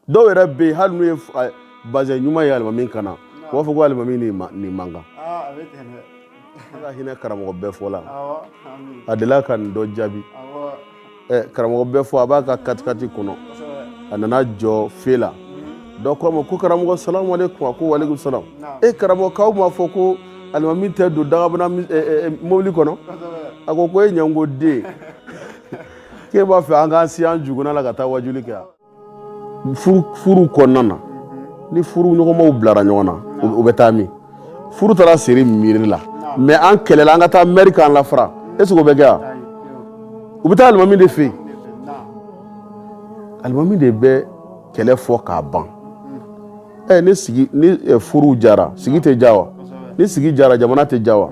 dɔw yɛrɛ bɛ yen hali n'u ye f- a- bazɛn ɲuman ye alimami kan na u b'a fɔ ko alimami nin ma- nin man kan aa a bɛ ten dɛ ala ka hinɛ karamɔgɔ befo la awɔ ami a delila ka nin dɔ jaabi awɔ ɛ karamɔgɔ befo a b'a ka katikati kɔnɔ kosɛbɛ a nana jɔ fe la dɔ ko a ma ko karamɔgɔ salamu aleykum a ko walekum salam Naam. e karamɔgɔ k'aw m'a fɔ ko alimami tɛ don dagabana mi- ɛ, ɛ, ɛ, mobili kɔnɔ kosɛbɛ a ko ko e ɲɛngoden k'e b'a fɛ an k'an si an juguna la ka taa wajuli kɛ furu kɔnɔna na ni furuɲɔgɔnmaw bilara ɲɔgɔn na u bɛ taa min furu taara siri mɛri la mɛ an kɛlɛla an ka taa mɛri k'an lafara ɛsikɛ o bɛ kɛ yan u bɛ taa alimami de fɛ yen alimami de bɛ kɛlɛ fɔ k'a ban ɛ ni sigi ni furu jara sigi tɛ ja wa ni sigi jara jamana tɛ ja wa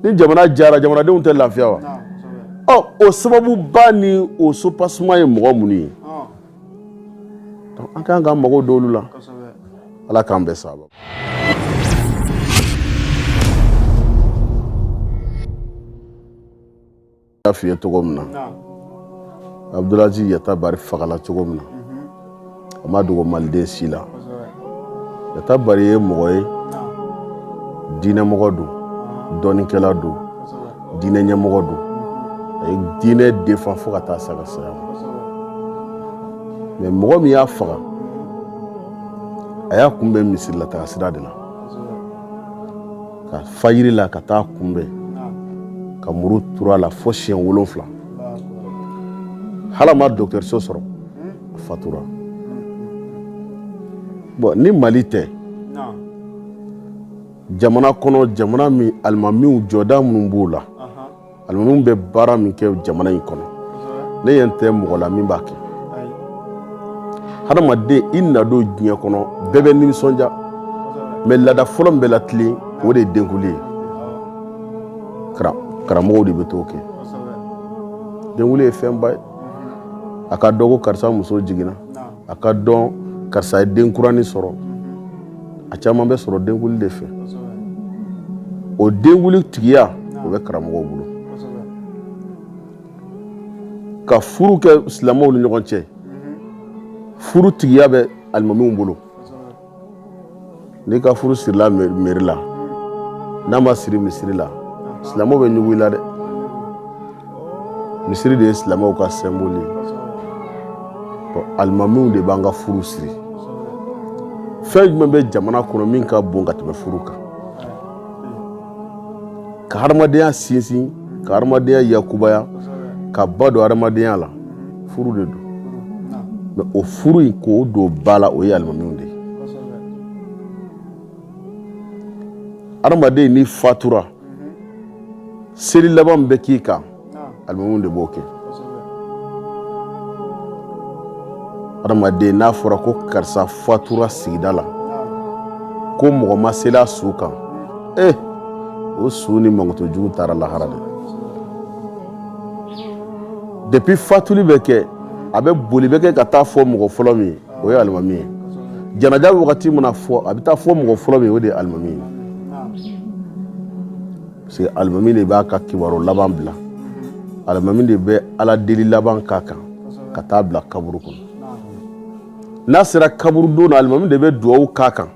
ni jamana jara jamanadenw tɛ lafiya wa ɔ o sababu ba ni o subasiman ye mɔgɔ minnu ye an kan ka mago don olu la ala k'an bɛɛ saba y'a f'i ye cogo min na abdulaziz yatabare fagala cogo min na a ma dogo maliden si la yatabare ye mɔgɔ ye diinɛmɔgɔ don dɔnnikɛla don diinɛ ɲɛmɔgɔ don a ye diinɛ defan fo ka taa s'a ka saya ma mɛ mɔgɔ min y'a faga a y'a kunbɛn misirilataga sira de la ka fajiri la ka t'a kunbɛn ka muru turu a la fo siyɛn wolonwula hali a ma dɔgɔtɔrɔso sɔrɔ a fatura bɔn ni mali tɛ jamana kɔnɔ jamana min alimamiw jɔda minnu b'u la alimamiw bɛ baara min kɛ jamana in kɔnɔ ne ɲɛ tɛ mɔgɔ la min b'a kɛ hadamaden i nadon diɲɛ kɔnɔ bɛɛ bɛ nisɔndiya mɛ laada fɔlɔ min bɛ latilen o de ye denkuli ye karamɔgɔw de bɛ t'o kɛ denkuli ye fɛnba ye a ka dɔn ko karisa muso jiginna a ka dɔn karisa ye denkuranin sɔrɔ a caman bɛ sɔrɔ denkuli de fɛ o denkuli tigiya o bɛ karamɔgɔw bolo ka furu kɛ silamɛw ni ɲɔgɔn cɛ furu tigiya bɛ alimamiw bolo n'i ka furu sirila mɛri la n'a ma siri misiri la silamɛw bɛ ɲugun i la dɛ misiri de ye silamɛw ka sɛnbɔli ye alimamiw de b'an ka furu siri fɛn jumɛn bɛ jamana kɔnɔ min ka bon ka tɛmɛ furu kan ka hadamadenya sinsin ka hadamadenya yakubaya ka ba don hadamadenya la furu de don mɛ o furu in k'o don ba la o ye alimamiw de ye hadamaden n'i fatura seli laban bɛ k'i kan alimamiw de b'o kɛ hadamaden n'a fɔra ko karisa fatura sigida la ko mɔgɔ ma seli a su kan e o su ni mankutujugu taara lahara de depuis fatuli bɛ kɛ a bɛ boli bɛ kɛ ka taa fɔ mɔgɔ fɔlɔ min ye o ye alimami ye janaja wagati mana fɔ a bɛ taa fɔ mɔgɔ fɔlɔ min o de ye alimami ye parce que alimami de b'a ka kibaru laban bila alimami de bɛ ala deli laban k'a kan ka taa bila kaburu kɔnɔ n'a sera kaburu don na alimami de bɛ dugawu k'a kan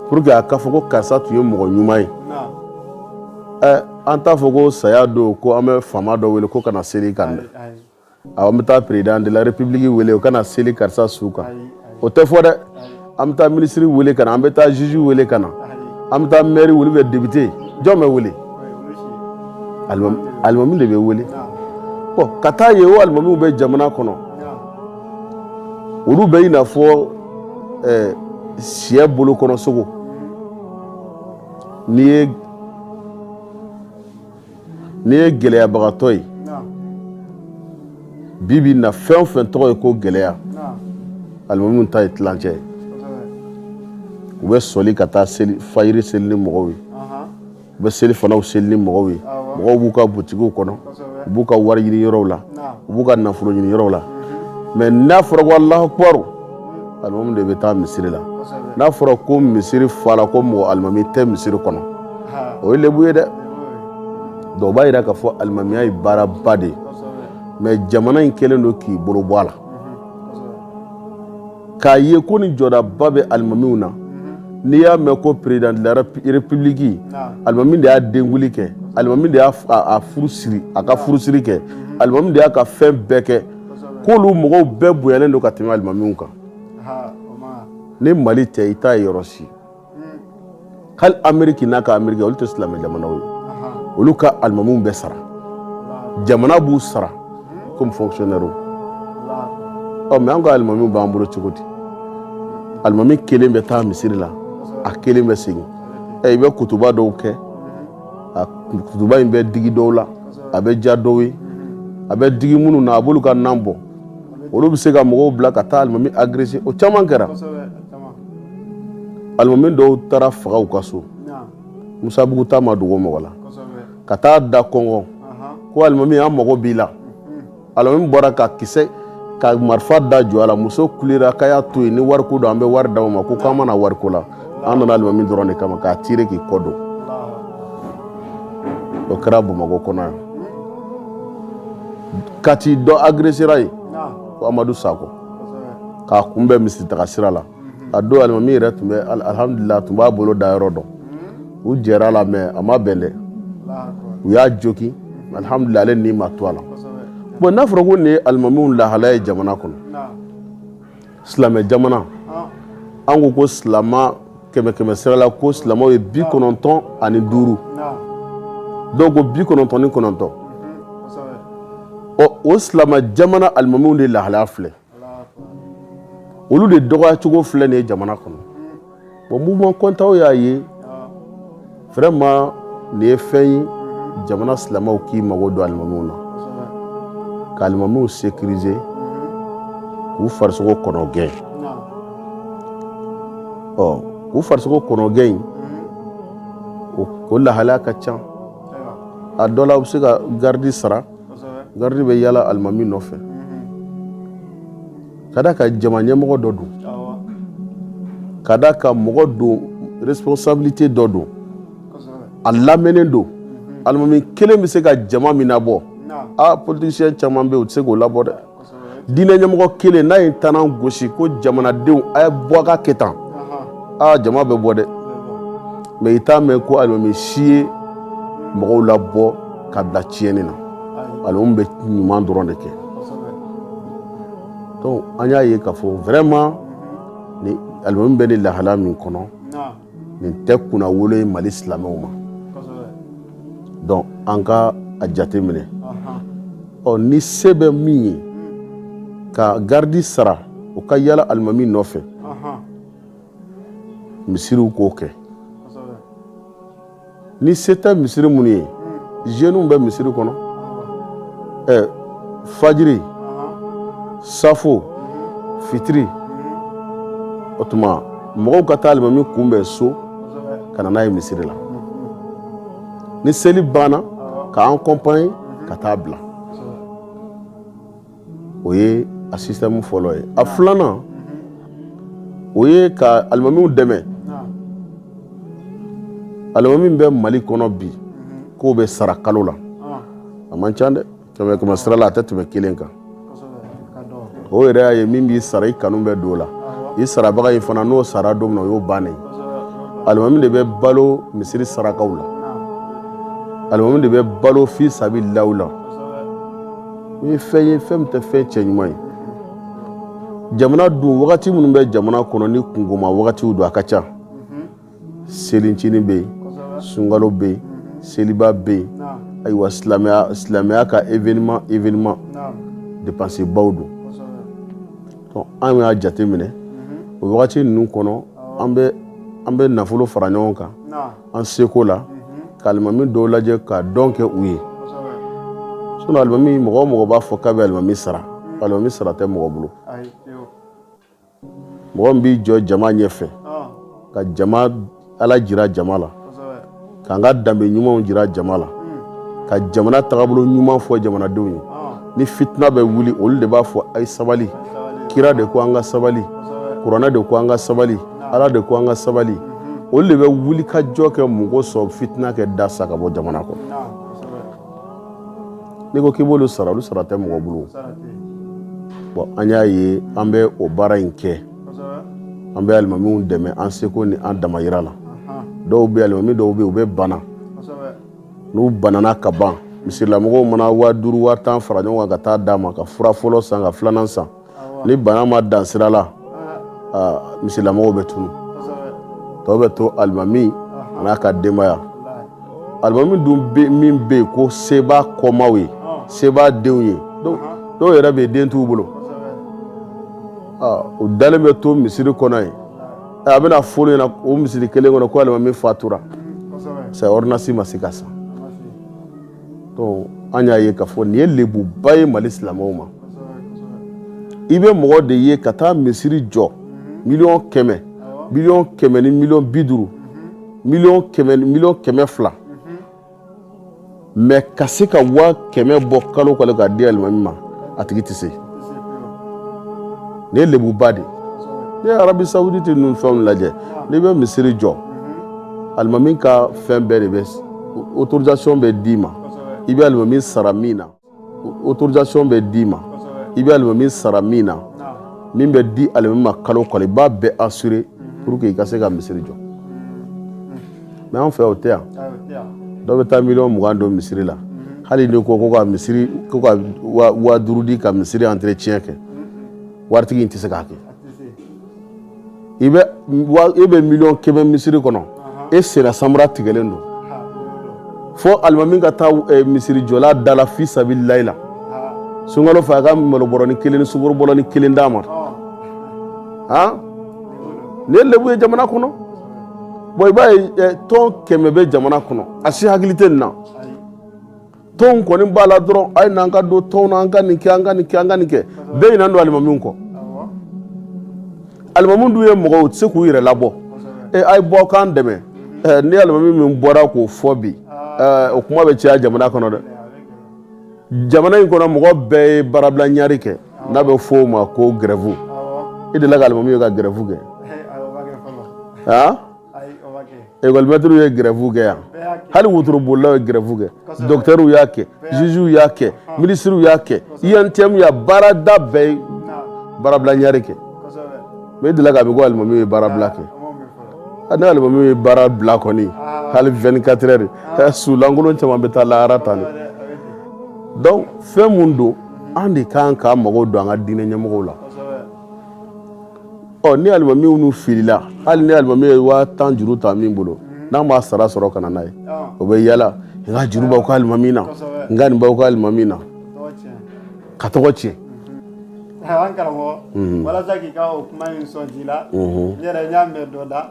pour que a ka fɔ ko karisa tun ye mɔgɔ ɲuman ye an t'a fɔ ko saya don ko an bɛ faama dɔ wele ko ka na seli kan dɛ An bɛ taa président de la république wele o ka na seli karisa su kan o tɛ fɔ dɛ an bɛ taa minisiri wele ka na an bɛ taa juge wele ka na an bɛ taa maire wele ɛ député jɔn bɛ wele alimami de bɛ wele bon ka taa ye o alimamiw bɛ jamana kɔnɔ olu bɛ i n'a fɔ syɛ bolo kɔnɔ sogo n'i ye n'i ye gɛlɛyabagatɔ ye bi bi in na fɛn o fɛn tɔgɔ ye ko gɛlɛya alimamiw ta ye tilancɛ ye u bɛ sɔli ka taa fajiri seli ni mɔgɔw ye u bɛ selifanaw seli ni mɔgɔw ye mɔgɔw b'u ka butigiw kɔnɔ u b'u ka wari ɲini yɔrɔw la u b'u ka nafolo ɲini yɔrɔw la mɛ n'a fɔra ko Alahu ak Alimami de bɛ taa misiri la n'a fɔra ko misiri fala ko mɔgɔ alimami tɛ misiri kɔnɔ o ye lebu ye dɛ donc o b'a jira k'a fɔ alimamiya ye baaraba de ye mɛ jamana in kɛlen don k'i bolo bɔ a la k'a ye ko ni jɔdaba bɛ alimamiw na n'i y'a mɛn ko président de la république alimami de y'a denguli kɛ alimami de y'a furu siri a ka furusiri kɛ alimami de y'a ka fɛn bɛɛ kɛ k'olu mɔgɔw bɛɛ bonyalen don ka tɛmɛ alimamiw kan ni mali tɛ i t'a ye yɔrɔ si hali Ameriki n'a ka Ameriki olu tɛ silamɛ jamanaw ye olu ka alimamiw bɛ sara jamana b'u sara comme fonctionnaire ɔ mɛ an ka alimamiw b'an bolo cogo di alimami kelen bɛ taa misiri la a kelen bɛ segin i bɛ kutuba dɔw kɛ a kutuba in bɛ digi dɔw la a bɛ ja dɔw ye a bɛ digi minnu na a b'olu ka nan bɔ olu bɛ se ka mɔgɔw bila ka taa alimami agresser o caman kɛra alimami dɔw taara faga u ka so musabugu ta ma dogo mɔgɔ la ka taa da kɔnkɔn ko alimami an mago b'i la alimami bɔra ka kisɛ ka marifa da jɔ a la muso kulera k'a y'a to yen ni wariko don an bɛ wari d'aw ma ko k'an ma na wariko la an nana alimami dɔrɔn de kama k'a tire k'i kɔ don o kɛra bamakɔ kɔnɔ yan kati dɔ agresera yen ko amadu sakɔ k'a kunbɛn misiri taga sira la a don alimami yɛrɛ tun bɛ alihamdulila tun b'a bolo da yɔrɔ dɔn u jɛr'a la mɛ a ma bɛn dɛ u y'a jogin alihamdulila ale ni ma to a la bon n'a fɔra ko nin ye alimamiw lahalaya ye jamana kɔnɔ silamɛ jamana an ko ko silamɛ kɛmɛ kɛmɛ sirala ko silamɛw ye bi kɔnɔntɔn ani duuru dɔw ko bi kɔnɔntɔn ni kɔnɔntɔn ɔ o silamɛ jamana alimamiw de lahalaya filɛ olu de dɔgɔyacogo filɛ nin ye jamana kɔnɔ bon mouvement kɔntaw y'a ye vraiment nin ye fɛn ye jamana silamɛw k'i mago don alimamiw na ka alimamiw sécuriser k'u farisogo kɔnɔ gɛn ɔ k'u farisogo kɔnɔ gɛn in o lahalaya ka ca a dɔ la u bɛ se ka garidi sara garidi bɛ yala alimami nɔfɛ ka d'a kan jama ɲɛmɔgɔ dɔ don ka d'a kan mɔgɔ don responsabilité dɔ don a lamɛnnen don alimami kelen bɛ se ka jama min nabɔ aa politicien caman bɛ yen u tɛ se k'o labɔ dɛ diinɛ ɲɛmɔgɔ kelen n'a ye tanan gosi ko jamanadenw a ye bɔ a ka kɛ tan aa jama bɛ bɔ dɛ mɛ i t'a mɛn ko alimami si ye mɔgɔw labɔ ka bila tiɲɛni na alimami bɛ ɲuman dɔrɔn de kɛ donc an y'a ye k'a fɔ vraiment ni alimami bɛ nin lahala min kɔnɔ nin tɛ kunnawolo ye mali silamɛw ma donc an ka a jate minɛ ɔ ni se bɛ min ye ka garidi sara o ka yala alimami nɔfɛ misiriw k'o kɛ ni se tɛ misiri minnu ye zeniw bɛ misiri kɔnɔ ɛ fajiri safo fitiri o tuma mɔgɔw ka taa alimami kunbɛn so ka na n'a ye misiri la ni seli banna k'a akɔnpanye ka taa bila o ye a système fɔlɔ ye a filanan o ye k'alimamiw dɛmɛ alimami bɛ mali kɔnɔ bi k'o bɛ sara kalo la a man ca dɛ kɛmɛkɛmɛ sira la a tɛ tɛmɛ kelen kan o yɛrɛ y'a ye min b'i sara i kanu bɛ dɔ la i sarabaga in fana n'o sara don min o y'o bannen alimami de bɛ balo misiri sarakaw la alimami de bɛ balo fisabililahiw la o ye fɛn ye fɛn min tɛ fɛn cɛ ɲuman ye jamana dun wagati minnu bɛ jamana kɔnɔ ni kunkoma wagatiw don a ka ca selincinin bɛ yen sunkalo bɛ yen seliba bɛ yen ayiwa silamɛya ka événement événement dépense baw don donc an y'a jate minɛ o wagati ninnu kɔnɔ an bɛ nafolo fara ɲɔgɔn kan an seko la k'alimami dɔw lajɛ ka don kɛ u ye sinon alimami mɔgɔ o mɔgɔ b'a fɔ k'a bɛ alimami sara alimami sara tɛ mɔgɔ bolo mɔgɔ min b'i jɔ jama ɲɛ fɛ ka jama ala jira jama la k'an ka danbe ɲumanw jira jama la ka jamana tagabolo ɲuman fɔ jamanadenw ye ni fitina bɛ wuli olu de b'a fɔ a ye sabali kira de ko an ka sabali kuranɛ de ko an ka sabali ala de ko an ka sabali olu de bɛ wuli ka jɔ kɛ mɔgɔ sɔrɔ fitina kɛ dasa ka bɔ jamana kɔnɔ n'i ko k'i b'olu sara olu sara tɛ mɔgɔ bolo bon an y'a ye an bɛ o baara in kɛ an bɛ alimamiw dɛmɛ an seko ni an damayira la dɔw bɛ alimami dɔw bɛ u bɛ bana n'u banana ka ban misirilamɔgɔw mana waa duuru waa tan fara ɲɔgɔn kan ka taa d'a ma ka fura fɔlɔ san ka filanan san ni bana ma dan sira la misirilamɔgɔw bɛ tunu tɔ bɛ to alimami ma n'a ka denbaya alimami dun min bɛ yen ko sebaa kɔmaaw ye sebaa denw ye dɔw yɛrɛ bɛ den t'u bolo u dalen bɛ to misiri kɔnɔ yen a bɛna fɔ i ɲɛ na o misiri kelen kɔnɔ ko alimami fatura c'est ordonnance ma se ka san an y'a ye k'a fɔ nin ye lebuba ye mali silamɛw ma i bɛ mɔgɔ de ye ka taa misiri jɔ miliyɔn kɛmɛ miliyɔn kɛmɛ ni miliyɔn bi duuru mi miliyɔn kɛmɛ fila mais ka se ka waa kɛmɛ bɔ kalo kalo k'a di alimami ma a tigi tɛ se nin ye lebuba de ne ye arabi sawuditi ninnu fɛnw lajɛ n'i bɛ misiri jɔ alimami ka fɛn bɛɛ de bɛ autorisation bɛ d'i ma i bɛ alimami sara min na autorisation bɛ d'i ma i bɛ alimami sara min na min bɛ di alimami ma kalo kalo i b'a bɛɛ assurer pour que i ka se ka misiri jɔ mɛ an fɛ o tɛ yan dɔw bɛ taa miliyɔn mugan don misiri la hali ni ko ka misiri ko ka waa duuru di ka misiri entretien kɛ waritigi in tɛ se k'a kɛ i bɛ e bɛ miliyɔn kɛmɛ misiri kɔnɔ i senna samara tigɛlen don fo alimami ka taa e, misirijɔla dala fi sabilillahi la sunkalo fɛ a ka malobɔrɔni kelen ni sukorobɔrɔni kelen d'a ma han nin ye lebu ye jamana kɔnɔ bɔn i b'a ye e, tɔn kɛmɛ bɛ jamana kɔnɔ a si hakili tɛ nin na tɔnw kɔni b'a la dɔrɔn a ye n'an ka don tɔnw na an ka nin kɛ an ka nin kɛ an ka nin kɛ bɛɛ ɲinɛnen don alimamiw kɔ alimamiw dun ye mɔgɔw u tɛ se k'u yɛrɛ labɔ ee a ye bɔ k'an dɛmɛ ni alimami min bɔra k'o fɔ bi o kuma bɛ caya jamana kɔnɔ dɛ jamana in kɔnɔ mɔgɔ bɛɛ ye baarabila ɲari kɛ n'a bɛ fɔ o ma ko gɛrɛfu i delila ka alimami ye ka gɛrɛfu kɛ aa ekɔlimɛtiriw ye gɛrɛfu kɛ yan hali wotorobolilaw ye gɛrɛfu kɛ dɔgɔtɔrɔw y'a kɛ zuzuw y'a kɛ minisiriw y'a kɛ UNTM baarada bɛɛ ye baarabila ɲari kɛ mɛ i delila k'a mɛn ko alimami ye baarabila kɛ ni alimami ye baara bila kɔni hali vingt-quatre heures de temps su lankolon caman bɛ taa lahara tan de dɔnku fɛn min don an de kan ka mago don an ka diinɛ ɲɛmɔgɔw la ɔ ni alimami minnu filila hali ni alimami ye waa tan juru ta min bolo n'a m'a sara sɔrɔ ka na n'a ye o bɛ yaala n ka juru b'aw ka alimami na n ka nin b'aw ka alimami na k'a tɔgɔ tiɲɛ karamɔgɔ walasa k'i ka o kuma in sɔn ji la n yɛrɛ n y'a mɛn dɔ da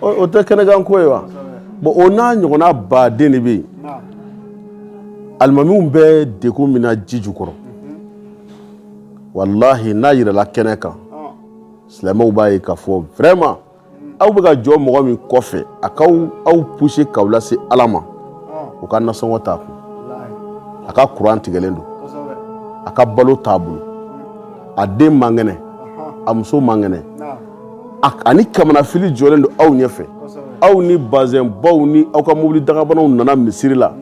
o tɛ kɛnɛkan ko ye wa bon o n'a ɲɔgɔnna baden de bɛ yen alimamiw bɛ degun min na ji jukɔrɔ walahi n'a yirala kɛnɛ kan silamɛw b'a ye k'a fɔ vraiment aw bɛ ka jɔ mɔgɔ min kɔfɛ a k'aw pousser k'aw lase ala ma o ka nasɔngɔ t'a kun a ka kuran tigɛlen don a ka balo t'a bolo a den man kɛnɛ a muso man kɛnɛ a ni kamanafili jɔlen don aw ɲɛfɛ aw ni bazɛnbaw ni aw ka mobili dagabanaw nana misiri la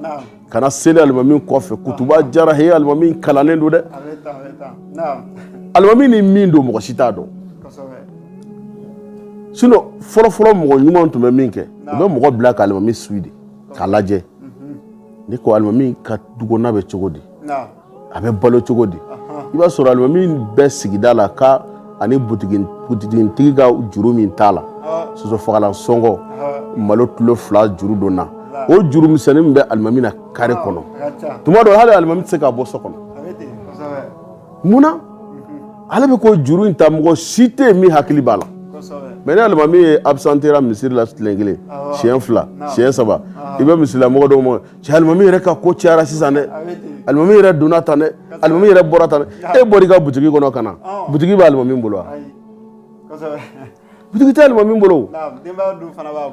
ka na seli alimami kɔfɛ kutuba diyara he alimami kalannen don dɛ alimami ni min don mɔgɔ si t'a dɔn sinɔn fɔlɔfɔlɔ mɔgɔ ɲuman tun bɛ min kɛ u bɛ mɔgɔ bila k'alimami suivi de k'a lajɛ ni ko alimami ka dukɔnɔna bɛ cogo di a bɛ balo cogo di i b'a sɔrɔ alimami bɛ sigida la ka ani butigitigi ka juru min t'a la sosofagalan sɔngɔ malo kilo fila juru donna o juru misɛnnin min bɛ alimami na kare kɔnɔ tuma dɔ hali alimami tɛ se ka bɔ so kɔnɔ munna ale bɛ ko juru in ta mɔgɔ si tɛ yen min hakili b'a la mais ni alimami ye abisantera misiri la tile kelen siɲɛ fila siɲɛ saba i bɛ misirila mɔgɔ dɔw ma cɛ alimami yɛrɛ ka ko cayara sisan dɛ alimami yɛrɛ donna tan dɛ alimami yɛrɛ bɔra tan e bɔra i ka butigi kɔnɔ ka na butigi b'alimami bolo wa butigi tɛ alimami bolo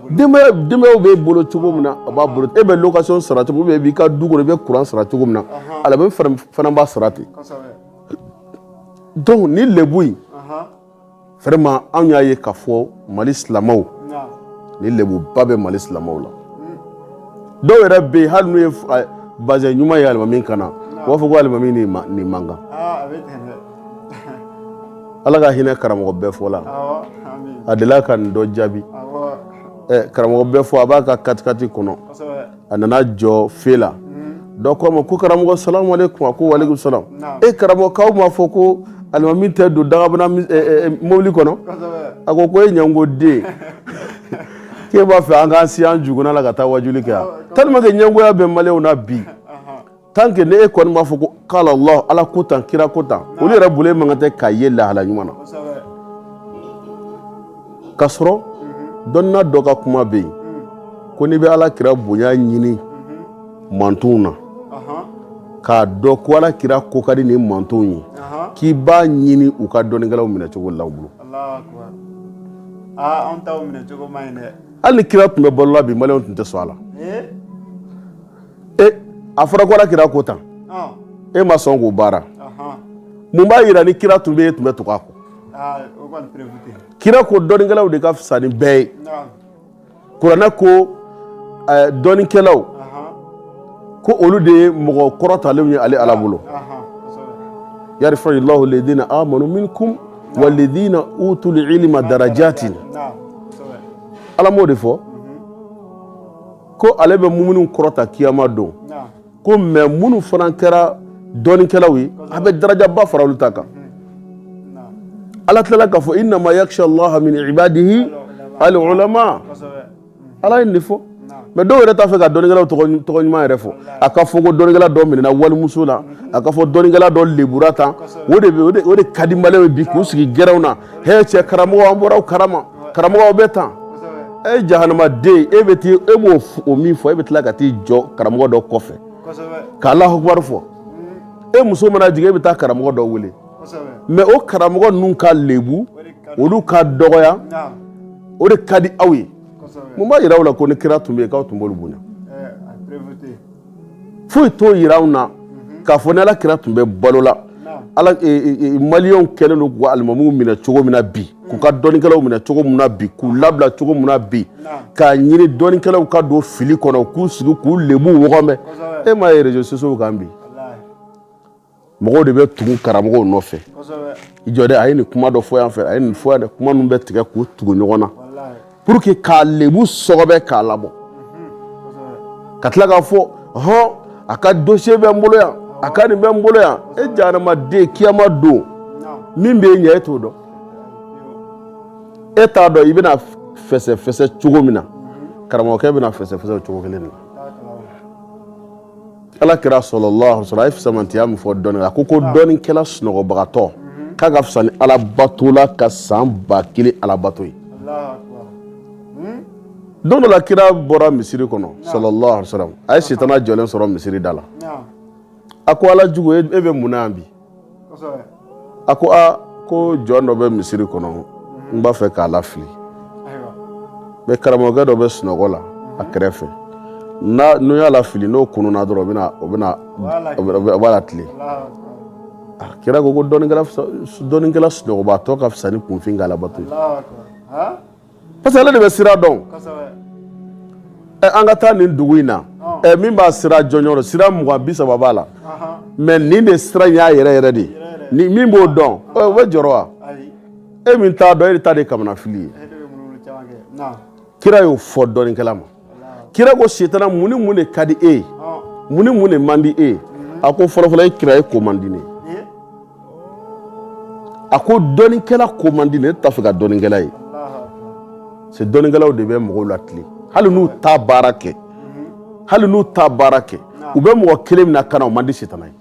denbayaw b'e bolo cogo min na a b'a bolo e bɛ location sara cogo min i b'i ka du kɔnɔ i bɛ kuran sara cogo min na ale fana b'a sara ten donc ni lebu vraiment anw y'a ye k'a fɔ mali silamɛw ni lebuba bɛ mali silamɛw la dɔw yɛrɛ bɛ yen hali n'u ye bazɛn ɲuman ye alimami kan na u b'a fɔ ko alimami nin man kan ala ka hinɛ karamɔgɔ befo la a delila ka nin dɔ jaabi karamɔgɔ befo a b'a ka katikati kɔnɔ a nana jɔ feu la dɔ k'a ma ko karamɔgɔ salamu aleykum a ko waleykum salam e karamɔgɔ k'aw m'a fɔ ko alimami tɛ don dagabana mobili kɔnɔ a ko ko e ɲɛngoden k'e b'a fɛ an k'an si an jukuna la ka taa waajuli kɛ yan tellement que ɲɛngoya bɛ maliyɛnw na bi tant que n'e kɔni b'a fɔ ko kala lahu ala ko tan kira ko tan olu yɛrɛ bolo e man kan tɛ ka ye lahala ɲuman na k'a sɔrɔ dɔnna dɔ ka kuma bɛ yen ko n'i bɛ ala kira bonya ɲini mantɔnw na k'a dɔn ko ala kira ko ka di ni mantɔnw ye k'i b'a ɲini u ka dɔnnikɛlaw minɛ cogo la u bolo hali ni kira tun bɛ balola bi maliyɛnw tun tɛ sɔn a la e a fɔra ko ala kira ko tan e ma sɔn k'o baara mun b'a yira ni kira tun bɛ yen e tun bɛ tugu a kɔ kira ko dɔnnikɛlaw de ka fisa ni bɛɛ ye kuranɛ ko dɔnnikɛlaw ko olu de ye mɔgɔ kɔrɔtalenw ye ale ala bolo yarifa lahu ledina amanu minkum wa ledina utul ilima darajati ala m'o de fɔ ko ale bɛ muminun kɔrɔta kiyama don ko mais minnu fana kɛra dɔnnikɛlaw ye a bɛ darajaba fara olu ta kan ala tilala k'a fɔ inama yakisa laha mini ibadihi ali ulama ala ye nin fɔ mais dɔw yɛrɛ t'a fɛ ka dɔnnikɛlaw tɔgɔ ɲuman yɛrɛ fɔ a ka fɔ ko dɔnnikɛla dɔ minɛna walimuso la a ka fɔ dɔnnikɛla dɔ lebura tan o de o de ka di maliyɛnw ye bi k'u sigi gɛrɛnw na h cɛ karamɔgɔ an bɔra karama karamɔgɔ bɛ tan e jahanamaden e bɛ taa e b'o min fɔ e bɛ tila ka t'i jɔ karamɔgɔ dɔ kɔfɛ ka alahu akubaru fɔ e muso mana jigin e bɛ taa karamɔgɔ dɔ wele mais o karamɔgɔ ninnu ka lebu olu ka dɔgɔya o de ka di aw ye mun b'a jira aw la ko ni kira tun bɛ yen k'aw tun b'olu bonya foyi t'o jira anw na k'a fɔ ni ala kira tun bɛ balo la maliyɛnw kɛlen don k'u ka alimamuw minɛ cogo min na bi k'u ka dɔnnikɛlaw minɛ cogo min na bi k'u labila cogo min na bi k'a ɲini dɔnnikɛlaw ka don fili kɔnɔ k'u sigi k'u lebu wɔgɔbɛ e m'a ye réseaux sociaux kan bi mɔgɔw de bɛ tugu karamɔgɔw nɔfɛ i jɔ dɛ a ye nin kuma dɔ fɔ yan fɛ a ye nin fɔ yan dɛ kuma ninnu bɛ tigɛ k'u tugu ɲɔgɔn na pour que k'a lebu sɔgɔbɛ k'a labɔ ka tila k'a fɔ hɔn a ka dossier bɛ n bolo yan a ka nin bɛ n bolo yan e jahanamaden kiyama don min bɛ ɲɛ e t'o dɔn e t'a dɔn i bɛna fɛsɛfɛsɛ cogo min na karamɔgɔkɛ bɛna fɛsɛfɛsɛ o cogo kelen de la Ala kira sallallahu alaihi wasallam a ye fisamantiya min fɔ dɔnni kan a ko ko dɔnnikɛla sunɔgɔbagatɔ k'a ka fisa ni alabatola ka san ba kelen alabato ye don dɔ la kira bɔra misiri kɔnɔ sallallahu alaihi wasallam a ye sitana jɔlen sɔrɔ misiri da la a ko ala jugu e bɛ mun na yan bi a ko aa ko jɔn dɔ bɛ misiri kɔnɔ n b'a fɛ k'a lafili mais karamɔgɔkɛ dɔ bɛ sunɔgɔ la a kɛrɛfɛ n'o y'a lafili n'o kununna dɔrɔn o b'a latilen a kira ko ko dɔnnikɛla sunɔgɔbatɔ ka fisa ni kunfin ka alabato parce que ale de bɛ sira dɔn an ka taa nin dugu in na min b'a sira jɔnjɔn dɔn sira mugan bi saba b'a la mais nin de sira y'a yɛrɛ yɛrɛ de ye min b'o dɔn o bɛ jɔrɔ wa e min t'a dɔn e de ta de ye kamanafili ye kira y'o fɔ dɔnnikɛla ma kira ko sitana mun ni mun de ka di e ye mun ni mun de man di e ye a ko fɔlɔfɔlɔ e kira e ko man di ne a ko dɔnnikɛla ko man di ne t'a fɛ ka dɔnnikɛla ye c'est dɔnnikɛlaw de bɛ mɔgɔw latilen hali n'u t'a baara kɛ hali n'u t'a baara kɛ u bɛ mɔgɔ kelen min lakana o man di sitana ye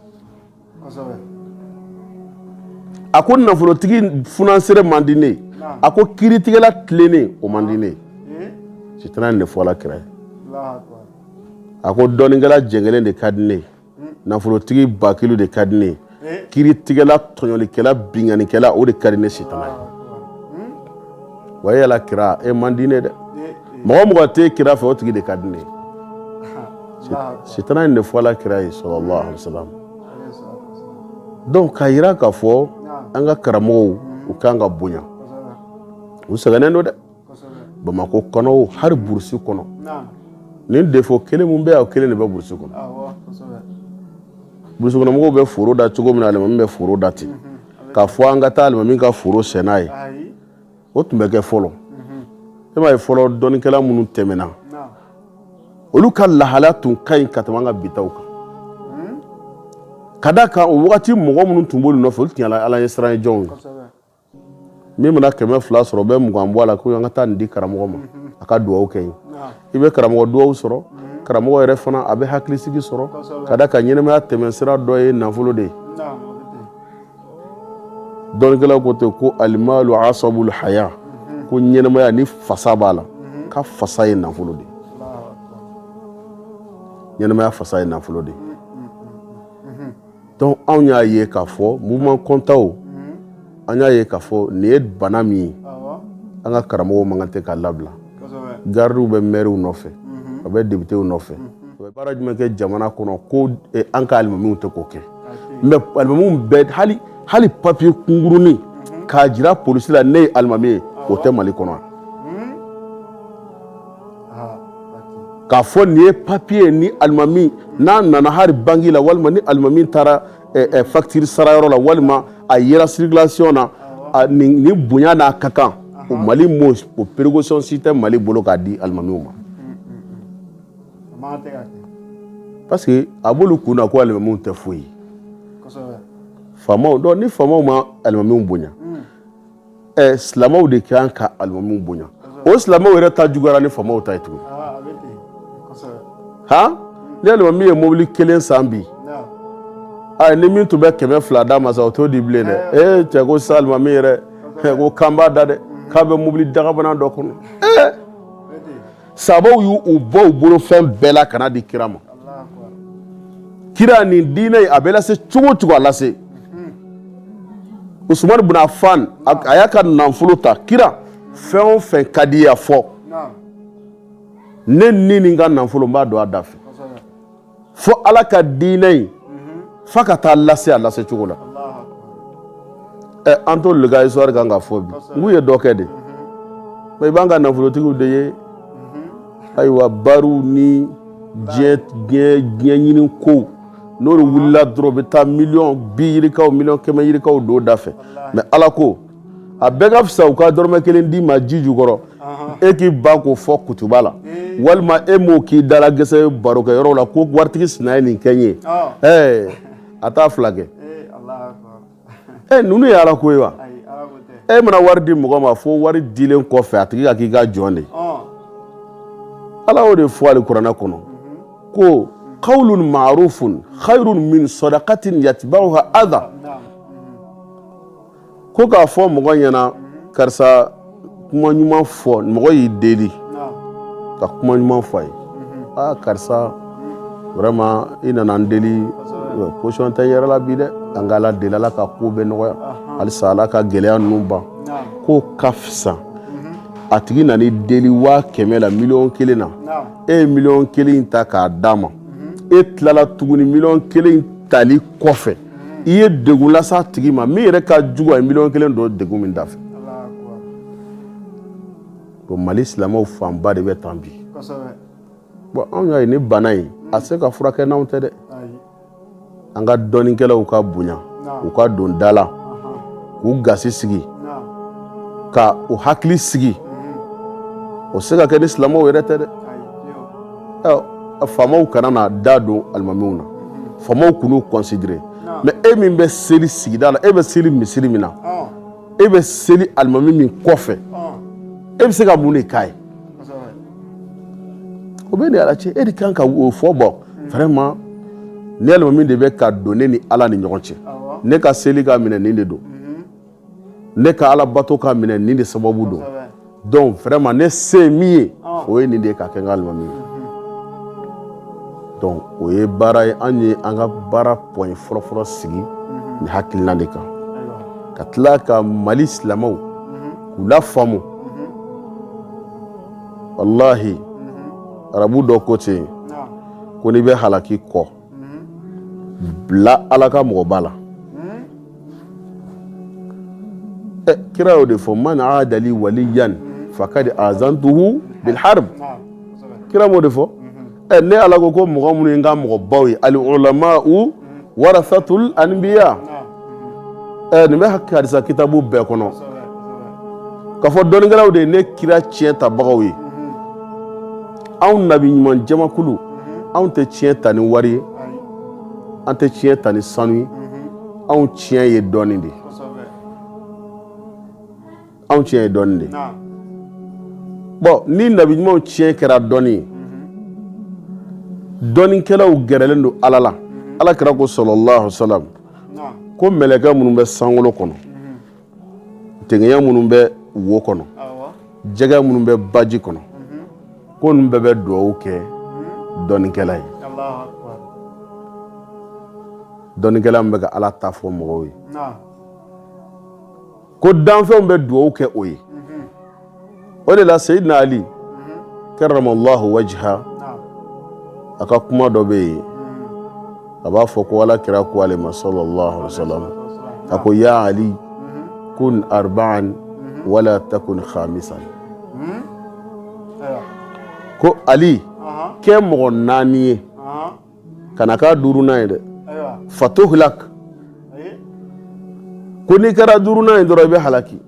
a ko nafolotigi funansere man di ne a ko kiiritigɛla tilennen o man di ne sitana ye nin de fɔ ala kira ye a ko dɔnnikɛla jɛngɛlen de ka di ne nafolotigi bakilu de ka di ne kiiritigɛla tɔɲɔlikɛla binkannikɛla o de ka di ne sitana ye wa e yala kira e man di ne dɛ mɔgɔ o mɔgɔ tɛ kira fɛ o tigi de ka di ne sitana in de fɔla kira ye sallallahu alaihi wasallam donc k'a jira k'a fɔ an ka karamɔgɔw u kan ka bonya u sɛgɛnnen don dɛ bamakɔ kɔnɔ o hali burusi kɔnɔ nin défaut kelen min bɛ yan o kelen de bɛ burusi kɔnɔ burusikɔnɔmɔgɔw bɛ foro da cogo min na alimami bɛ foro da ten k'a fɔ an ka taa alimami ka foro sɛnɛ ye o tun bɛ kɛ fɔlɔ e m'a ye fɔlɔ dɔnnikɛla minnu tɛmɛna olu ka lahala tun ka ɲi ka tɛmɛ an ka bitaw kan ka d'a kan o wagati mɔgɔ minnu tun b'olu nɔfɛ olu tun ye ala ɲɛsiran jɔnw ye min mana kɛmɛ fila sɔrɔ o bɛ mugan bɔ a la ko an ka taa nin di karamɔgɔ ma a ka dugawu kɛ yen i bɛ karamɔgɔ dugawu sɔrɔ karamɔgɔ yɛrɛ fana a bɛ hakilisigi sɔrɔ ka d'a kan ɲɛnɛmaya tɛmɛsira dɔ ye nafolo de ye dɔnnikɛlaw ko ten ko alimalu asabul haya ko ɲɛnɛmaya ni fasa b'a la ka fasa ye nafolo de ɲɛnɛmaya fasa ye nafolo de donc anw y'a ye k'a fɔ mouvement kɔntaw an y'a ye k'a fɔ nin ye bana min ye an ka karamɔgɔw man kan tɛ ka labila garidiw bɛ mɛriw nɔfɛ a bɛ depitew nɔfɛ u bɛ baara jumɛn kɛ jamana kɔnɔ ko eh, an ka alimamiw tɛ k'o kɛ mais alimamiw bɛɛ hali papiye kunkurunin k'a jira polisi la ne ye alimami ye o tɛ mali kɔnɔ hmm? ah, k'a fɔ nin ye papiye ni alimami n'a nana hali banki la walima ni alimami taara facture sarayɔrɔ la walima a yera circulation na ni bonya n'a ka kan o mali o précaution si tɛ mali bolo k'a di alimamiw ma parce que a b'olu kun na ko alimamiw tɛ foyi ye faamaw donc ni faamaw ma alimamiw bonya ɛ silamɛw de kan ka alimamiw bonya o silamɛw yɛrɛ ta juguyara ni faamaw ta ye tuguni han ni alimami ye mobili kelen san bi ayi ni min tun bɛ kɛmɛ fila d'a ma sa o t'o di bilen dɛ ee cɛ ko sisan alimami yɛrɛ ko kan b'a da dɛ k'a bɛ mobili dagabana dɔ kɔnɔ ee sabaw y'u bɔ u bolo fɛn bɛɛ la ka n'a di kira ma kira nin diinɛ in a bɛ lase cogo o cogo a lase usumani bin afan a y'a ka nafolo ta kira fɛn o fɛn ka di i ye a fɔ ne ni ni n ka nafolo n b'a don a da fɛ fo ala ka diinɛ in fa ka taa lase a lase cogo la ɛ an t'olu ka histoire kan k'a fɔ bi n k'u ye dɔ kɛ dɛ mais i b'an ka nafolotigiw de ye ayiwa bariw ni diɲɛ ɲini kow n'olu wulila dɔrɔn u bɛ taa miliyɔn bi yirikaw miliyɔn kɛmɛ yirikaw don da fɛ mais ala ko a bɛɛ ka fisa u ka dɔrɔmɛ kelen d'i ma ji jukɔrɔ e k'i ban k'o fɔ kutuba la walima e m'o k'i dala gɛsɛ barokɛyɔrɔ la ko waritigi sina ye nin kɛ n ye ɛɛ a t'a fila kɛ e ninnu ye ala ko ye wa e mana wari di mɔgɔ ma fo wari dilen kɔfɛ a tigi ka k'i ka jɔn de ala y'o de fɔ alikuranɛ kɔnɔ ko kawlun maarufun khayrun min sadaqatin yatba'uha adha ko k'a fɔ mɔgɔ ɲɛna karisa kuma ɲuman fɔ mɔgɔ y'i deli ka kuma ɲuman fɔ a ye aa karisa vraiment i nana n deli position tɛ yɛrɛ la bi dɛ an ka ala deli ala ka ko bɛ nɔgɔya halisa ala ka gɛlɛya ninnu ban k'o ka fisa a tigi nan'i deli waa kɛmɛ la miliyɔn kelen na e ye miliyɔn kelen ta k'a d'a ma e tilala tuguni miliyɔn kelen tali kɔfɛ i ye degun lase a tigi ma min yɛrɛ ka jugu a ye miliyɔn kelen don degun min da fɛ bon mali silamɛw fanba de bɛ tan bi bon anw y'a ye ni bana in a se ka furakɛ n'anw tɛ dɛ an ka dɔnnikɛlaw ka bonya u ka don da la k'u gasi sigi ka u hakili sigi o se ka kɛ ni silamɛw yɛrɛ tɛ dɛ faamaw kana n'a da don alimamiw na faamaw kan'u considérer mais e min bɛ seli sigida la e bɛ seli misiri min na e bɛ seli alimami min kɔfɛ e bɛ se ka mun de k'a ye o b'e ni ala cɛ e de kan ka o fɔ bon vraiment ne alimami de bɛ ka don ne ni ala ni ɲɔgɔn cɛ ne ka seli ka minɛ nin de don ne ka ala bato ka minɛ nin de sababu don donc vraiment ne se min ye o ye nin de ka kɛ n ka alimami ye donc o ye baara ye an ye an ka baara point fɔlɔfɔlɔ sigi ni hakilina de kan ka tila ka mali silamɛw k'u lafaamu walahi arabu dɔ ko ten ko n'i bɛ halaki kɔ bila ala ka mɔgɔba la kira y'o de fɔ man aada li waliyan fakad azantuhu bil harb kira m'o de fɔ ɛ ne ala ko ko mɔgɔ minnu ye n ka mɔgɔbaw ye al ulama'u warasatul anbiya ɛ nin bɛ hadisa kitabu bɛɛ kɔnɔ k'a fɔ dɔnnikɛlaw de ye ne kira tiɲɛ tabagaw ye anw nabi ɲuman jamakulu anw tɛ tiɲɛ ta ni wari ye an tɛ tiɲɛ ta ni sanu ye anw tiɲɛ ye dɔnni de anw tiɲɛ ye dɔnni de bon ni nabi ɲumanw tiɲɛ kɛra dɔnni ye dɔnnikɛlaw gɛrɛlen don ala la ala kira ko sallallahu alayhi wasallam ko mɛlɛkɛ minnu bɛ sankolo kɔnɔ tigɛya minnu bɛ wo kɔnɔ jɛgɛ minnu bɛ baji kɔnɔ ko ninnu bɛɛ bɛ dugawu kɛ dɔnnikɛla ye dɔnnikɛla min bɛ ka ala ta fɔ mɔgɔw ye ko danfɛnw bɛ dugawu kɛ o ye o de la sayidina ali karamallahu wajha a ka kuma dɔ bɛ yen a b'a fɔ ko ala kira ko ale ma sallallahu alaihi wasallam a ko ya ali kun arba'an wala takun khamisan ko ali kɛ mɔgɔ naani ye kana k'a duurunan ye dɛ fatuhlak ko n'i kɛra duurunan ye dɔrɔn i bɛ halaki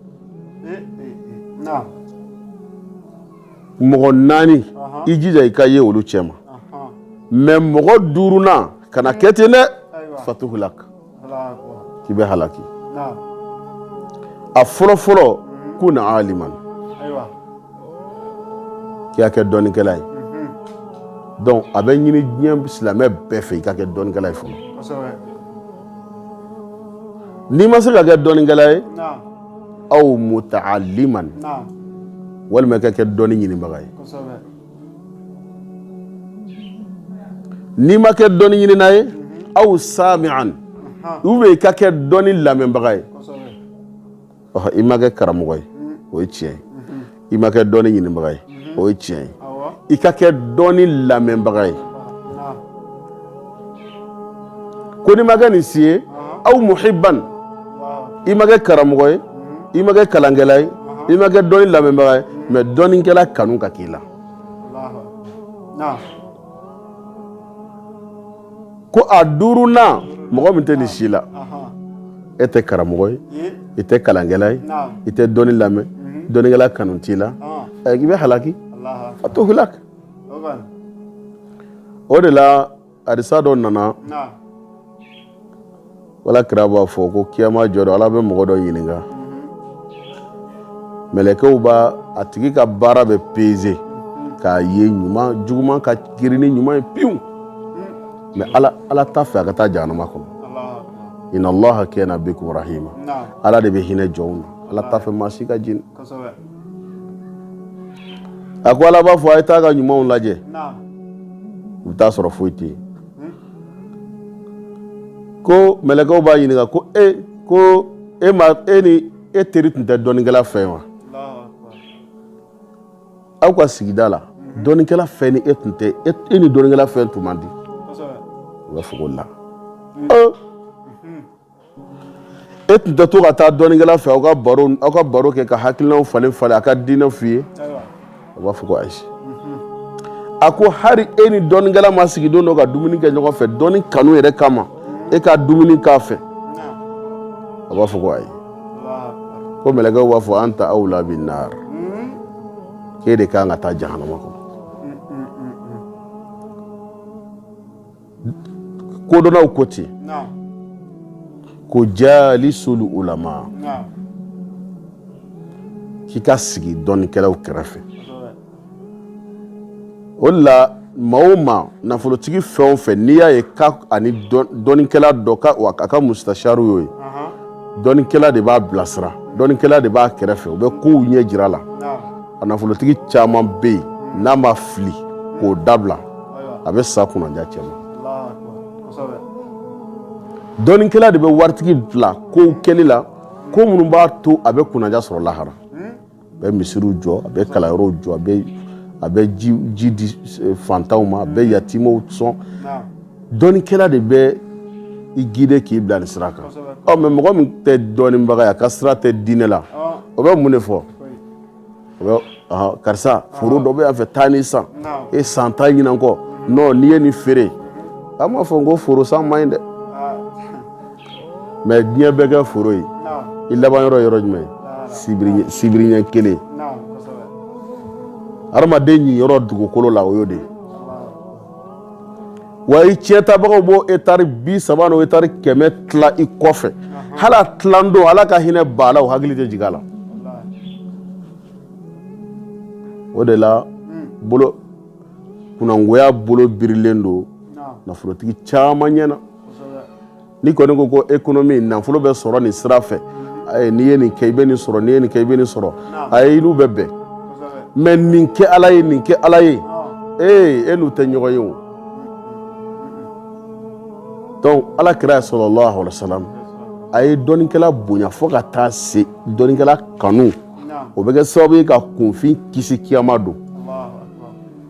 mɔgɔ naani i jija i ka ye olu cɛ ma mais mɔgɔ duurunan kana kɛ ten dɛ fatuhlak k'i bɛ halaki a fɔlɔ fɔlɔ kun aliman i ka kɛ dɔnnikɛla ye donc a bɛ ɲini diɲɛ silamɛ bɛɛ fɛ i ka kɛ dɔnnikɛla ye fɔlɔ n'i ma se ka kɛ dɔnnikɛla ye aw muta'alliman walima i ka kɛ dɔnni ɲinibaga ye N'i ma kɛ dɔnni ɲinina ye aw sami'an ou bien i ka kɛ dɔnni lamɛnbaga ye i ma kɛ karamɔgɔ ye o ye tiɲɛ ye i ma kɛ dɔnni ɲinibaga ye o ye tiɲɛ ye i ka kɛ dɔnni lamɛnbaga ye ko n'i ma kɛ nin si ye aw muhibban i ma kɛ karamɔgɔ ye i ma kɛ kalankɛla ye i ma kɛ dɔnni lamɛnbaga ye mais dɔnnikɛla kanu ka k'i la ko a duurunan mɔgɔ min tɛ nin si la e tɛ karamɔgɔ ye i tɛ kalankɛla ye i tɛ dɔnni lamɛn dɔnnikɛla kanu t'i la i bɛ halaki fatuhlak o de la hadisa dɔ nana ala kira b'a fɔ ko kiyama jɔ don ala bɛ mɔgɔ dɔ ɲininka mɛlɛkɛw b'a a tigi ka baara bɛɛ peze k'a ye ɲuman juguman ka girin ni ɲuman ye pewu mais ala t'a fɛ a ka taa jahanama kɔnɔ inna allaha kana bikum rahima ala de bɛ hinɛ jɔnw na ala t'a fɛ maa si ka jeni A ko ala b'a fɔ a ye taa ka ɲumanw lajɛ u bɛ t'a sɔrɔ foyi tɛ yen ko mɛlɛkɛw b'a ɲininka ko e ko e ma e ni e teri tun tɛ dɔnnikɛla fɛ wa aw ka sigida la dɔnnikɛla fɛn ni e tun tɛ e ni dɔnnikɛla fɛn tun man di u b'a fɔ ko la E tun tɛ to ka taa dɔnnikɛla fɛ aw ka aw ka baro kɛ ka hakilinaw falen falen a ka diinɛ f'i ye a b'a fɔ ko ayi a ko hali e ni dɔnnikɛla ma sigi don dɔ ka dumuni kɛ ɲɔgɔn fɛ dɔnni kanu yɛrɛ kama e ka dumuni k'a fɛ a b'a fɔ ko ayi ko mɛlɛkɛw b'a fɔ anta awla binnar k'e de ka kan ka taa jahanama kɔnɔ kodɔnnaw ko ten ko jalisul ulama k'i ka sigi dɔnnikɛlaw kɛrɛfɛ o de la maa o maa nafolotigi fɛn o fɛn n'i y'a ye k'a ni dɔnnikɛla dɔ a ka mustasharu y'o ye dɔnnikɛla de b'a bilasira dɔnnikɛla de b'a kɛrɛfɛ u bɛ kow ɲɛ jir'a la a nafolotigi caman bɛ yen n'a ma fili k'o dabila a bɛ sa kunnaja cɛma dɔnnikɛla de bɛ waritigi bila kow kɛli la ko minnu b'a to a bɛ kunnaja sɔrɔ lahara a bɛ misiriw jɔ a bɛ kalanyɔrɔw jɔ a bɛ a bɛ ji di eh, fantanw ma a bɛ yatimaw sɔn dɔnnikɛla de bɛ i gide k'i bila nin sira kan ɔ mɛ mɔgɔ min tɛ dɔnnibaga ye a ka sira tɛ diinɛ la o bɛ mun de fɔ karisa foro dɔ bɛ yan fɛ taa nin san e san tan ɲinan kɔ n'i ye nin feere an m'a fɔ ko foro san man ɲi dɛ mɛ diɲɛ bɛɛ kɛ foro ye i laban yɔrɔ yɔrɔ jumɛn sibiri ɲɛ kelen adamaden niyɔrɔ dugukolo la o y'o de ye wa i ciyɛntabagaw b'o etari bi saba n'o etari kɛmɛ tila i kɔfɛ hali a tiladon ala ka hinɛ ba la o hakili tɛ jigin a la o de la bolo kunnangoya bolo birilen don nafolotigi caman ɲɛ na ni kɔni ko ko ekonomi nafolo bɛ sɔrɔ nin sira fɛ n'i ye nin kɛ i bɛ nin sɔrɔ n'i ye nin kɛ i bɛ nin sɔrɔ a e n'u bɛ bɛn mɛ nin kɛ ala ye nin kɛ ala ye ee e n'u tɛ ɲɔgɔn ye o dɔnku ala kira salalahu alayihi wa salam a ye dɔnnikɛla bonya fo ka taa se dɔnnikɛla kanu o bɛ kɛ sababu ye ka kunfin kisi kiyama don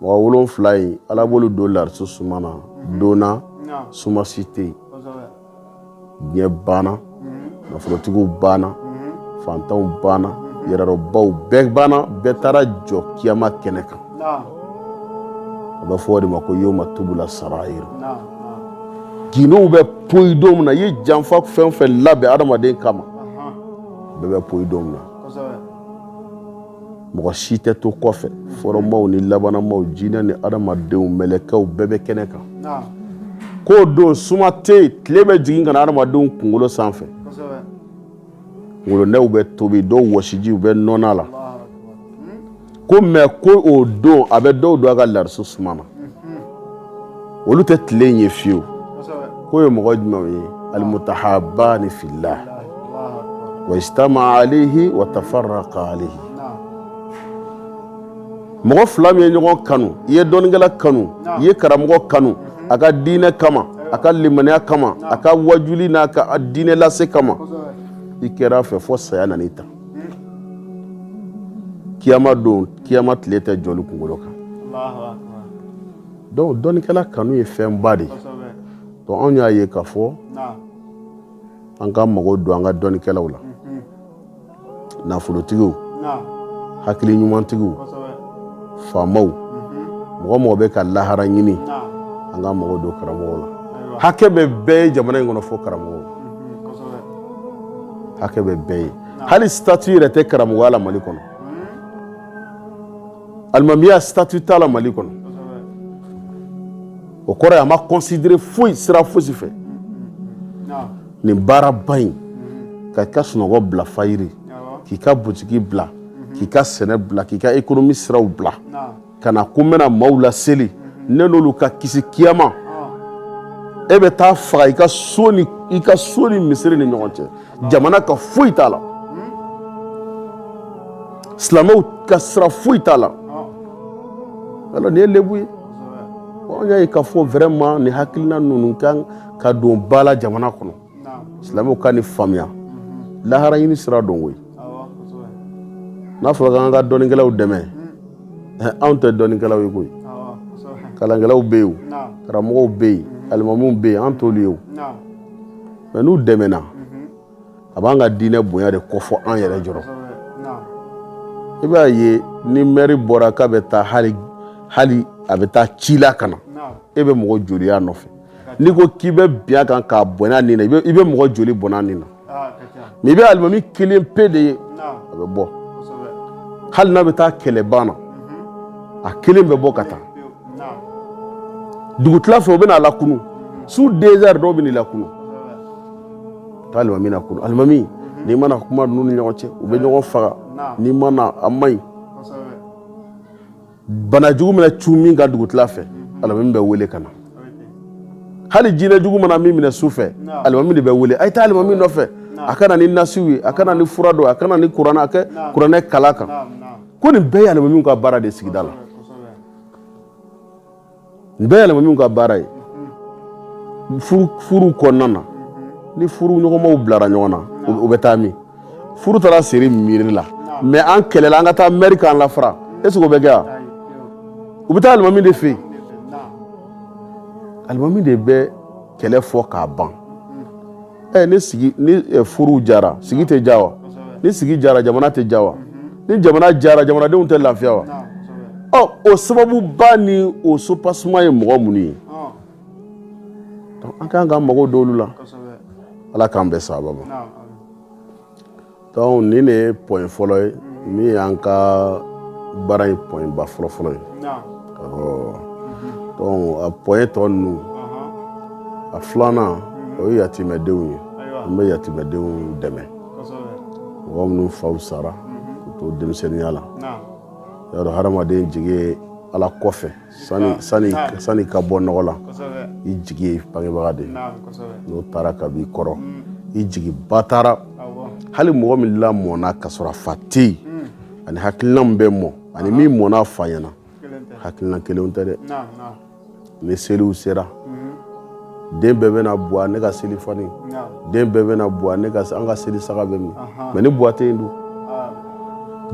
Mɔgɔ wolonwula in ala b'olu don lariso suma na don na suma si tɛ yen diɲɛ banna nafolotigiw banna fantanw banna yɛrɛdɔnbaw bɛɛ banna bɛɛ taara jɔ kiyama kɛnɛ kan a bɛ fɔ o de ma ko yawma tubula sarayir gundow bɛ poyi don min na i ye janfa fɛn o fɛn labɛn adamaden kama bɛɛ bɛ poyi don min na mɔgɔ si tɛ to kɔfɛ fɔlɔmaw ni labanmaw jinɛ ni adamadenw mɛlɛkɛw bɛɛ bɛ kɛnɛ kan k'o don suma tɛ tile bɛ jigin ka na adamadenw kunkolo sanfɛ kunkolonɛw bɛ tobi dɔw wɔsiji u bɛ nɔn a la ko mɛ ko o don a bɛ dɔw don a ka larisu suma na olu tɛ tile in ye fiyewu k'o ye mɔgɔ jumɛnw ye alimutahabani filahi wa ijitama alayihi wa tafaraka alayihi mɔgɔ fila min ye ɲɔgɔn kanu i ye dɔnnikɛla kanu i ye karamɔgɔ kanu a ka diinɛ kama a ka limaniya kama a ka wajuli n'a ka diinɛ lase kama i kɛra a fɛ fo saya nana i ta kiyama don kiyama tile tɛ jɔ olu kunkolo kan dɔnku dɔnnikɛla kanu ye fɛn ba de ye anw y'a ye k'a fɔ an ka mago don an ka dɔnnikɛlaw la nafolotigiw hakili ɲumantigiw faamaw mɔgɔ o mɔgɔ bɛ ka lahara ɲini an ka mago don karamɔgɔ la hakɛ bɛ bɛɛ ye jamana in kɔnɔ fo karamɔgɔ hakɛ bɛ bɛɛ ye hali statut yɛrɛ tɛ karamɔgɔya la mali kɔnɔ alimamiya statut t'a la mali kɔnɔ o kɔrɔ a ma kɔnsidere foyi sira fosi fɛ nin baaraba in ka i ka sunɔgɔ bila fayiri k'i ka butigi bila k'i ka sɛnɛ bila k'i ka ekonomi siraw bila ka na ko n bɛna maaw laseli ne n'olu ka kisi kiyama e bɛ taa faga i ka so ni misiri ni ɲɔgɔn cɛ jamana ka foyi t'a la silamɛw ka sira foyi t'a la alors nin ye lebu ye an y'a ye k'a fɔ vraiment nin hakilina ninnu kan ka don ba la jamana kɔnɔ silamɛw ka nin faamuya lahara ɲini sira don koyi n'a fɔra k'an ka dɔnnikɛlaw dɛmɛ anw tɛ dɔnnikɛlaw ye koyi kalankɛlaw bɛ yen karamɔgɔw bɛ yen alimamuw bɛ yen an t'olu ye o mɛ n'u dɛmɛna a b'an ka diinɛ bonya de kofɔ an yɛrɛ jɔyɔrɔ i b'a ye ni mɛri bɔra k'a bɛ taa hali a bɛ taa ci la ka na e bɛ mɔgɔ joli y'a nɔfɛ n'i ko k'i bɛ bin a kan k'a bɔn'a ni na i bɛ mɔgɔ joli bɔn'a ni na mɛ i bɛ alimami kelen pe de ye a bɛ bɔ hali n'a bɛ taa kɛlɛban na a kelen bɛ bɔ ka taa dugu tila fɛ u bɛna a lakunun su deux heures dɔw bɛ n'a lakunun k'alimami lakunun alimami n'i ma na kuma ninnu ni ɲɔgɔn cɛ u bɛ ɲɔgɔn faga n'i ma na a man ɲi bana jugu mana cun min kan dugu tila fɛ alimami bɛ wele ka na hali jinɛ jugu mana min minɛ su fɛ alimami de bɛ wele a ye taa alimami nɔfɛ a ka na ni nasiw ye a ka na ni fura dɔ a ka na ni kuranɛ ka kuranɛ kalan a kan ko nin bɛɛ ye alimami ka baara de ye sigida la nin bɛɛ ye alimamiw ka baara ye furu kɔnɔna na ni furu ɲɔgɔnmaw bilara ɲɔgɔn na o bɛ taa min furu taara siri misiri la mais an kɛlɛla an ka taa mɛri k'an lafara est-ce que o bɛ kɛ yan u bɛ taa alimami de fɛ yen alimami de bɛ kɛlɛ fɔ k'a ban ɛ ne sigi ni furu diyara sigi tɛ diya wa ni sigi diyara jamana tɛ diya wa ni jamana diyara jamanadenw tɛ lafiya wa ɔ o sababu ba ni o soubassement ye mɔgɔ minnu ye an ka kan ka mago don olu la ala k'an bɛn sababu ma donc nin de ye point fɔlɔ ye min y'an ka baara in point ba fɔlɔ fɔlɔ ye donc a point tɔ ninnu a filanan o ye yatimɛdenw ye an bɛ yatimɛdenw dɛmɛ mɔgɔ minnu faw sara k'u to denmisɛnninya la i y'a dɔn hadamaden jigi ala kɔfɛ sani ka bɔ nɔgɔ la i jigi ye i bangebaga de n'o taara ka b'i kɔrɔ mm. i jigi ba taara hali mɔgɔ min lamɔna ka sɔrɔ a fa tɛ yen mm. ani hakilina min bɛ mɔ ani min mɔn'a fa ɲɛna hakilina kelen tɛ dɛ ni seliw sera mm. den bɛɛ bɛ na buwa ne ka seli fani den bɛɛ bɛ na buwa an ka seli saga bɛ min mais ni buwa tɛ dun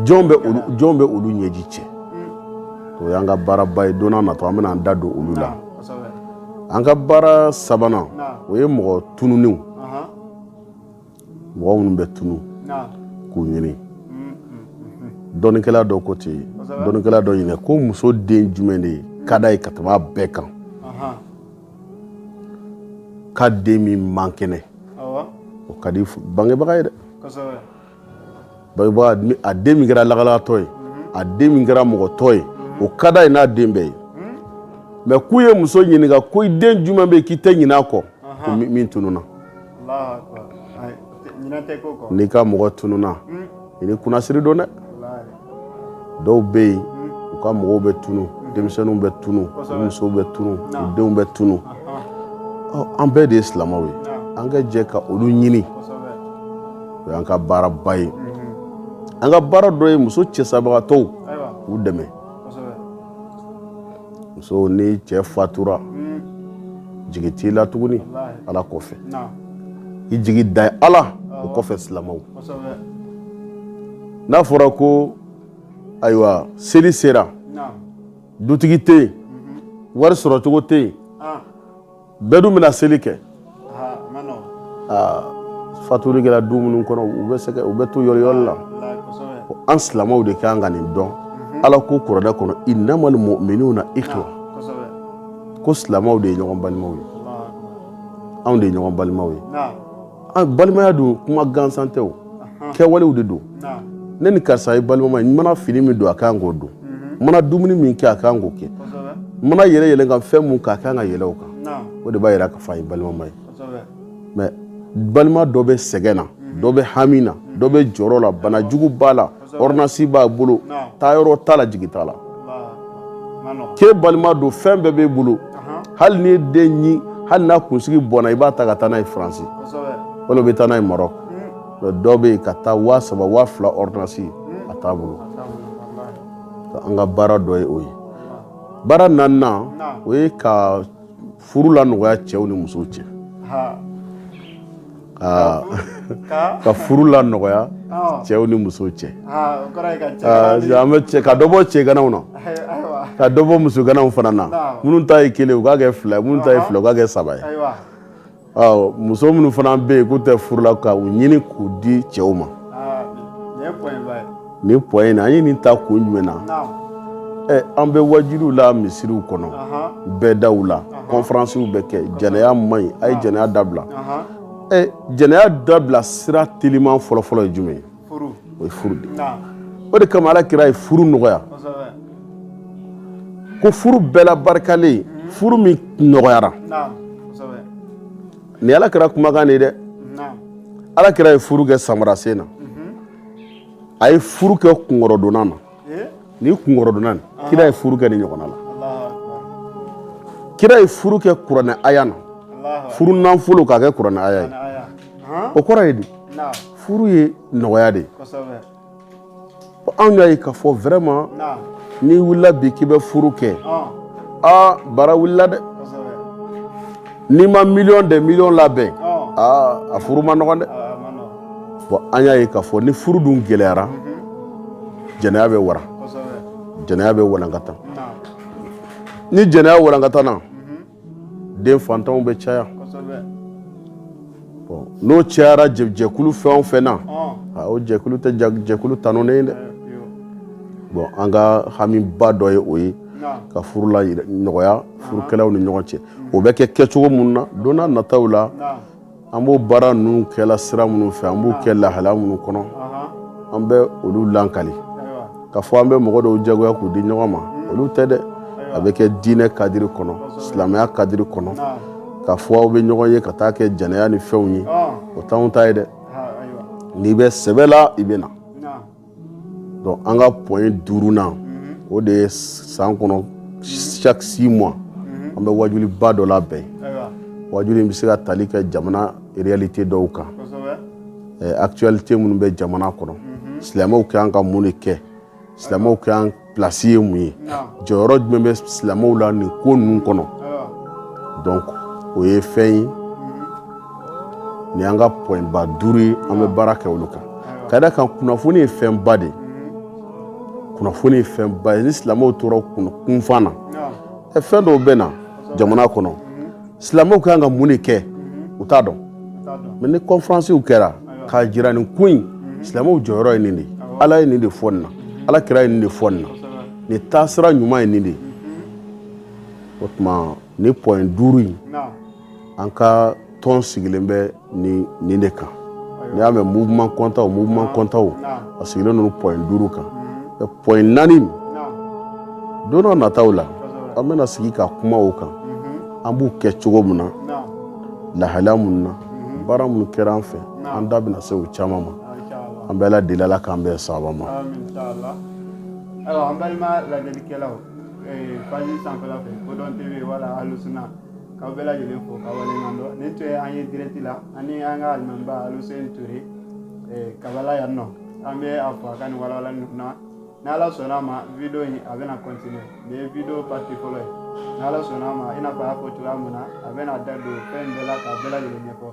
jɔn bɛ olu ɲɛji cɛ o y'an ka baaraba ye don nataw an bɛna an da don olu la an ka baara sabanan o ye mɔgɔ tununnenw mɔgɔ minnu bɛ tunu k'u ɲini dɔnnikɛla dɔ ko ten dɔnnikɛla dɔ ɲini ko muso den jumɛn de ka d'a ye ka tɛmɛ a bɛɛ kan k'a den min man kɛnɛ o ka di bangebaga ye dɛ bangebaga a den min kɛra lagalagatɔ ye a den min kɛra mɔgɔtɔ ye o ka d'a ye n'a den bɛɛ ye mais k'u ye muso ɲininka ko i den jumɛn bɛ yen k'i tɛ ɲin'a kɔ min tununna n'i ka mɔgɔ tununna i ni kunnasiri don dɛ dɔw bɛ yen u ka mɔgɔw bɛ tunun denmisɛnninw bɛ tunun u musow bɛ tunun u denw bɛ tunun an bɛɛ de ye silamɛw ye an ka jɛ ka olu ɲini o y'an ka baaraba ye an ka baara dɔ ye muso cɛsabagatɔw k'u dɛmɛ muso n'i cɛ fatura jigi t'i la tuguni ala kɔfɛ i jigi da ye ala o kɔfɛ silamɛw n'a fɔra ko ayiwa seli sera dutigi tɛ yen wari sɔrɔcogo tɛ yen bɛɛ dun bɛna seli kɛ fatuli kɛra du minnu kɔnɔ u bɛ sɛgɛ u bɛ to yɔrɔ yɔrɔ la an silamɛw de kan ka nin dɔn mhm. ala ko kuranɛ kɔnɔ innamal muminuna ikhwa ko silamɛw de ye ɲɔgɔn balimaw ye anw de ye ɲɔgɔn balimaw ye an balimaya dun kuma gansan tɛ o kɛwalew de don ne ni karisa ye balimama ye n mana fini min don a kan k'o don n mana dumuni min kɛ a kan k'o kɛ n mana yɛlɛ yɛlɛ ka fɛn min k'a kan ka yɛlɛ o kan o de b'a yira k'a fɔ a ye balimama ye mais balima dɔ bɛ sɛgɛn na dɔ bɛ hami na dɔ bɛ jɔrɔ la banajugu b'a la ordonnance b'a bolo taayɔrɔ t'a la jigi t'a la k'e balima don fɛn bɛɛ b'e bolo hali n'i den ɲin hali n'a kunsigi bɔnna i b'a ta ka taa n'a ye faransi wala bɛ taa n'a ye maroc dɔ bɛ yen ka taa waa saba waa fila ordonnance a t'a bolo an ka baara dɔ ye o ye baara naaninan o ye ka furu lanɔgɔya cɛw ni musow cɛ ka furu lanɔgɔya cɛw ni musow cɛ an bɛ ka dɔ bɔ cɛganaw na ka dɔ bɔ musoganaw fana na minnu ta ye kelen u k'a kɛ fila minnu ta ye fila u k'a kɛ saba ye muso minnu fana bɛ yen k'u tɛ furu la ka u ɲini k'u di cɛw ma nin point in na an ye nin ta kun jumɛn na an bɛ waajuliw la misiriw kɔnɔ bɛɛ da la conférencew bɛ kɛ jɛnɛya man ɲi a ye jɛnɛya dabila ɛ jɛnɛya dabila sira teliman fɔlɔfɔlɔ ye jumɛn ye o ye furu de o de kama ala kira ye furu nɔgɔya ko furu bɛɛ la barikalen ye furu min nɔgɔyara nin ala kira kumakan de ye dɛ ala kira ye furu kɛ samara sen na a ye furu kɛ kunkɔrɔdonnan na ni kunkɔrɔdonnan kira ye furu kɛ nin ɲɔgɔnna la kira ye furu kɛ kuranɛ aya na furu nafolo k'a kɛ kuranɛ aya ye o kɔrɔ ye di furu ye nɔgɔya de ye anw y'a ye k'a fɔ vraiment n'i wulila bi k'i bɛ furu kɛ aa baara wulila dɛ n'i ma miliyɔn de miliyɔn labɛn aa a furu man nɔgɔn dɛ bon an y'a ye k'a fɔ ni furu dun gɛlɛyara jɛnɛya bɛ wara jɛnɛya bɛ walankata ni jɛnɛya walankatana den fatanw bɛ caya n'o cayara jɛkulu fɛn o fɛn na o jɛkulu tɛ jɛkulu tanunen ye dɛ bon an ka hamiba dɔ ye o ye ka furu lanɔgɔya furukɛlaw ni ɲɔgɔn cɛ o bɛ kɛ kɛcogo minnu na don nataw la an b'o baara ninnu kɛla sira minnu fɛ an b'u kɛ lahala minnu kɔnɔ an bɛ olu lakali k'a fɔ an bɛ mɔgɔ dɔw jagoya k'u di ɲɔgɔn ma olu tɛ dɛ a bɛ kɛ diinɛ kadiri kɔnɔ silamɛya kadiri kɔnɔ k'a fɔ aw bɛ ɲɔgɔn ye ka taa kɛ jɛnɛya ni fɛnw ye o t'anw ta ye dɛ n'i bɛ sɛbɛ la i bɛ na an ka point duurunan o de ye san kɔnɔ chaque six mois an bɛ wajuliba dɔ labɛn wajuli in bɛ se ka tali kɛ jamana réalité dɔw kan actualité minnu bɛ jamana kɔnɔ silamɛw ka kan ka mun de kɛ silamɛw ka place ye mun ye jɔyɔrɔ jumɛn bɛ silamɛw la nin ko ninnu kɔnɔ donc o ye fɛn ye nin y'an ka point ba duuru ye an bɛ baara kɛ olu kan ka d'a kan kunnafoni ye fɛnba de kunnafoni ye fɛnba ye ni silamɛw tora kunfan na ɛ fɛn dɔw bɛ na jamana kɔnɔ Silamɛw ka kan ka mun de kɛ u t'a dɔn mais ni conférencew kɛra k'a jira nin ko in silamɛw jɔyɔrɔ ye nin de ala ye nin de fɔ nin na ala kira ye nin de fɔ nin na nin taasira ɲuman ye nin de ye o tuma nin point duuru in an ka tɔn sigilen bɛ nin de kan n'i y'a mɛn mouvement kɔntan mouvement kɔntan a sigilen ninnu point duuru kan point naani don dɔ nataw la an bɛna sigi ka kuma o kan an b'u kɛ cogo min na lahala minnu na baara minnu kɛra an fɛ an da bɛna se o caman ma an bɛ ala deli ala k'an bɛn sawaba ma K'aw bɛɛ lajɛlen fo k'aw waleɲuman dɔn nin tun ye an ye direct la an ni an ka alimamiba Aluseni Ture Kabala yan nɔ an bɛ a fo a ka nin walawalali ninnu na ni Ala sɔnn'a ma video in a bɛna continuer nin ye video partie fɔlɔ ye ni Ala sɔnn'a ma i n'a fɔ a y'a fɔ cogoya min na a bɛna da don fɛn bɛɛ la k'a bɛɛ lajɛlen ɲɛfɔ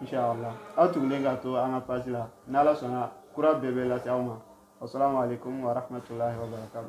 inshallah aw tugulen ka to an ka page la ni Ala sɔnna kura bɛɛ bɛ lase aw ma wasalamu aleykum wa rahmatulahi wa barakatu